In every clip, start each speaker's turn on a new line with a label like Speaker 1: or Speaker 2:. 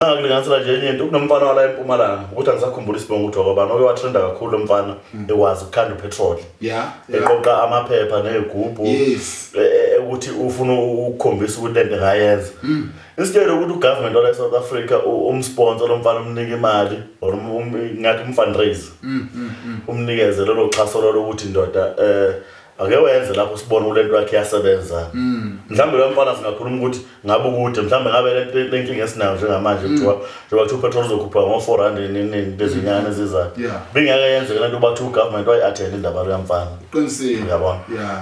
Speaker 1: angakulinganisela nje enye into kunomfana wala empumalanga ukuthi angisakhumbula isibongo ukuthi wakwabani oke watrenda kakhulu lomfana mm. ekwazi ukukhanda upetrol eqoqa amaphepha nezigubhu e, e, ukuthi ufuna ukukhombisa ukuthi lento ngayenza mm. instead ukuthi ugovernment wala eSouth Africa umsponsor lomfana umnike imali or um, um, ngathi umfundraise mm, umnikeze lelo xhaso lolo ukuthi ndoda eh ake wenze lapho sibone ukuthi lento yakhe iyasebenza mm. mhlawumbe lo mfana singakhuluma ukuthi ngabe ukude mhlawumbe ngabe le nkinga esinayo njengamanje mm. kuthiwa njengoba kuthiwa upetrol uzokhuphuka ngo-four rand nini bezinyanga mm. ezizayo bingeke yenzeke lento uba kuthiwa ugovernment wayi-athenda indaba leyo mfana
Speaker 2: yabona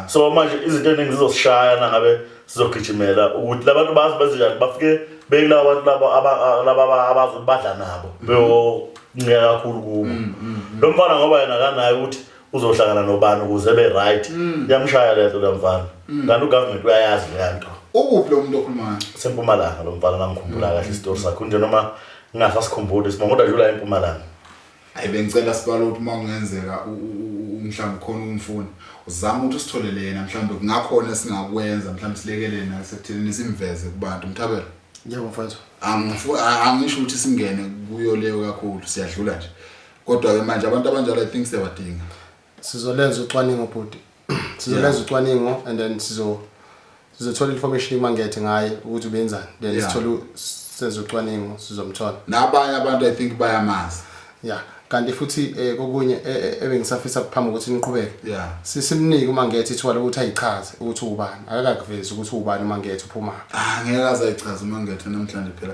Speaker 1: so manje izinto eningi zizosishaya nangabe sizogijimela ukuthi labantu bazi bezinjani bafike bekulawa bantu laba abazi ukuthi badla nabo beyonceka kakhulu kubo lo mfana ngoba yena kanayo ukuthi uzohlangana nobani ukuze ebe right mm. yamshaya lento lamfana mm. kanti ugovernment uyayazi lento ukuphi lo muntu
Speaker 2: okhulumayo sempumalanga lo mfana
Speaker 1: ngangikhumbula mm. kahle isitori sakho nje noma ngingasa sikhumbuli sima kodwa jula empumalanga ayi bengicela
Speaker 2: sibalo ukuthi uma kungenzeka mhlawumbe khona umfuni uzama ukuthi usitholele yena mhlawumbe kungakhona esingakwenza mhlawumbe silekelele nasekuthenini simveze kubantu mthabela yebo
Speaker 3: mfowethu angisho
Speaker 2: ukuthi singene kuyo leyo kakhulu siyadlula nje kodwa ke manje abantu abanjalo i think siyabadinga sizolenza
Speaker 3: ucwaningo bhuti sizolenza ucwaningo and then sizo sizothola information imangethe ngaye ukuthi ubenzani then Yeah. sithole u- senze ucwaningo sizomthola nabanye abantu i
Speaker 2: think bayamazi ya kanti
Speaker 3: futhi eh, kokunye eh, eh, ebengisafisa phambi ukuthi niqhubeke Yeah. Si- simnike umangethe ithuba lokuthi ayichaze ukuthi ubani akakakuvezi ukuthi ubani umangethe uphumaphi ah ngeke azayichaza
Speaker 2: umangethe namhlanje phela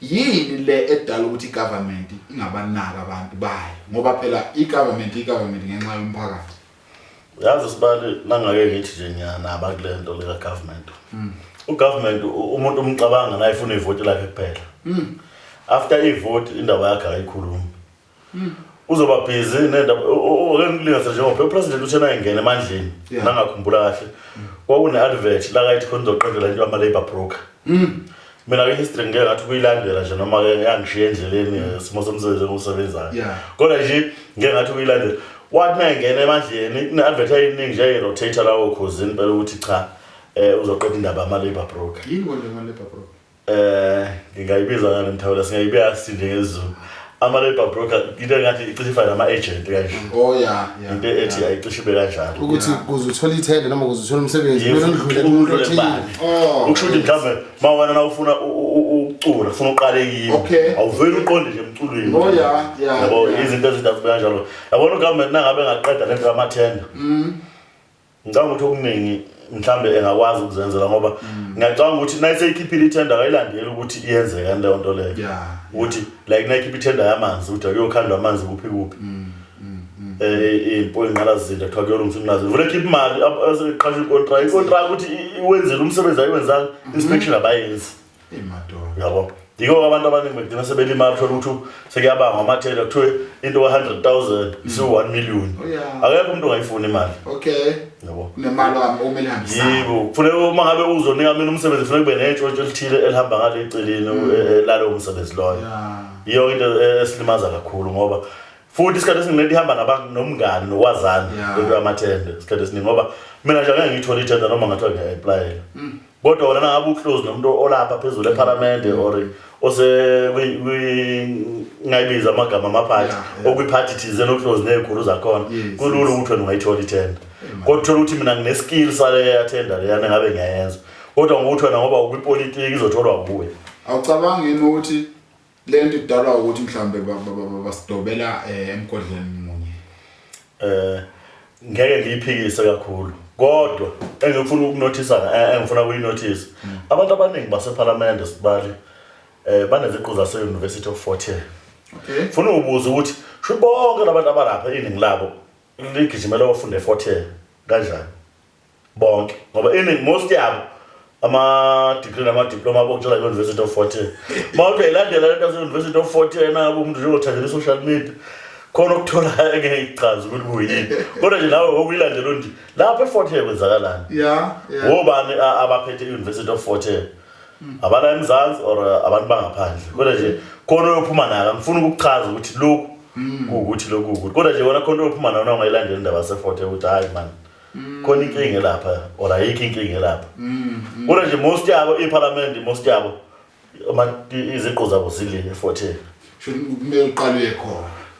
Speaker 2: Yini le edala ukuthi igovernment ingabanaki abantu bayo ngoba phela igovernment igovernment ngenxa yomphakathi. Yazi
Speaker 1: sibali nangake ngithi nje ngiyanaba kule nto lika government. Mm. U government umuntu umcabanga naye ufuna ivoti lakhe kuphela. Mm. After ivoti indaba yakhe ayikhulumi. uzoba busy nendaba ake ngilingase njengoba upresident uthe nayengena emandleni nangakhumbula kahle kwakune-advert la kayithi khona uzoqedela into yama-labour broker mm. mina ke history ngike ngathi kuyilandela nje noma ke yangishiya endleleni eh, simo somsebenzi engiwusebenzayo kodwa nje ngike ngathi kuyilandela wathi nayengena emandleni kune-advert eyiningi nje eyi-rotator lawo khozini phela ukuthi cha um uzoqeda indaba yama-labour broker yini konje ama-labour
Speaker 2: broker Eh ngingayibiza ngani
Speaker 1: mthawula singayibeka sinde ngezulu. Ama labor broker into engathi icishe ifana nama agent kanje. Oh yeah, yeah. Into ethi ayicishe ibe kanjalo. Ukuthi kuze uthole
Speaker 3: ithende noma kuze uthole umsebenzi kumele udlule kumuntu othile. Oh. Ukusho ukuthi
Speaker 1: mhlawumbe ma wena na ufuna ukucula ufuna uqale kimi. Awuveli uqonde nje emculweni. Oh yeah, yeah. Yabo izinto ezidafu kanjalo. Yabona ugovernment nangabe ngaqeda lento yamathenda. Mhm. ngicabanga ukuthi okuningi mhlambe engakwazi ukuzenzela ngoba mm. ngiyacabanga ukuthi nayiseyikhiphile itender kayilandeli ukuthi iyenze kanti leyo nto leyo ukuthi like nayikhipha itender yamanzi ukuthi akuyokhandwa amanzi kuphi kuphi mm, mm, eh impo inqalazile kuthiwa kuyolungisa inqalazile vele khipha imali aseqasha icontract icontract ukuthi wenzele umsebenzi ayiwenzanga inspection abayenzi yabo yiko abantu abaningi begcina sebelimali thola ukuthi sekuyabangwa amathela kuthiwe into ka-hundred thousand mm. isiwu-one million oh, akekho umuntu ongayifuni imali okay yabo nemali wami okumele
Speaker 2: hambisane yibo kufuneka uma
Speaker 1: ngabe uzonika mina umsebenzi kufuneka kube nentshontsho elithile elihamba ngale eceleni mm. e, e, lalowo msebenzi loyo yiyo into e, esilimaza kakhulu ngoba futhi isikhathi esiningi lento ihamba nabantu nomngani nokwazana lento yamathende isikhathi esiningi ngoba mina nje angeke ngiyithole ithenda noma ngathiwa ngiya-aplayela mm. kodwa wena nangabe uclose nomuntu olapha phezulu ephalamende mm. or osengayibiza amagama amaphathi okwiphathi thizeni oclose ney'khulu zakhona kulula ukuthi wena ungayithola ithenda kodwa uthole ukuthi mina ngineskill saleyathenda leyana ngabe ngiyayenza kodwa ngokuthi wena ngoba ukwipolitiki izotholwa kuwe awucabangi yini
Speaker 2: ukuthi Le nto idalwa ukuthi mhlawumbe ba- ba- ba- ba- basidobela eh, emgodleni munye eh
Speaker 1: ngeke ngiyiphikise kakhulu kodwa engifuna ukunothisa eh, engifuna kuyinothisa abantu abaningi basephalamende sibali eh baneziqu zase University of Fort Hare okay funa ubuza ukuthi sho bonke labantu abalapha iningi labo ligijimela ofunda eFort Hare kanjani bonke ngoba iningi most yabo ama-degree nama-diploma abokutshela i-university of forty uma uthi uyayilandela lento yase-university of forty yena ngabe umuntu njengothandela i-social media khona ukuthola engeke ichazi ukuthi kuyini kodwa nje nawe okuyilandelo nje lapho e-fort hill kwenzakalani wobani abaphethe i-university of fort hill hmm. abala emzansi or uh, abantu bangaphandle kodwa nje khona oyophuma naka ngifuna ukukuchaza ukuthi lokhu hmm. kuwukuthi lokhu ukuthi kodwa nje wona khona oyophuma nawo na ungayilandeli indaba yase-fort hill ukuthi hhayi mani khona inkinga lapha or ayikho inkinga lapha kodwa nje most yabo iphalamende most yabo ama- i-
Speaker 2: iziqu
Speaker 1: zabo zile efotheni Should kumele
Speaker 2: uqale uye
Speaker 1: khona.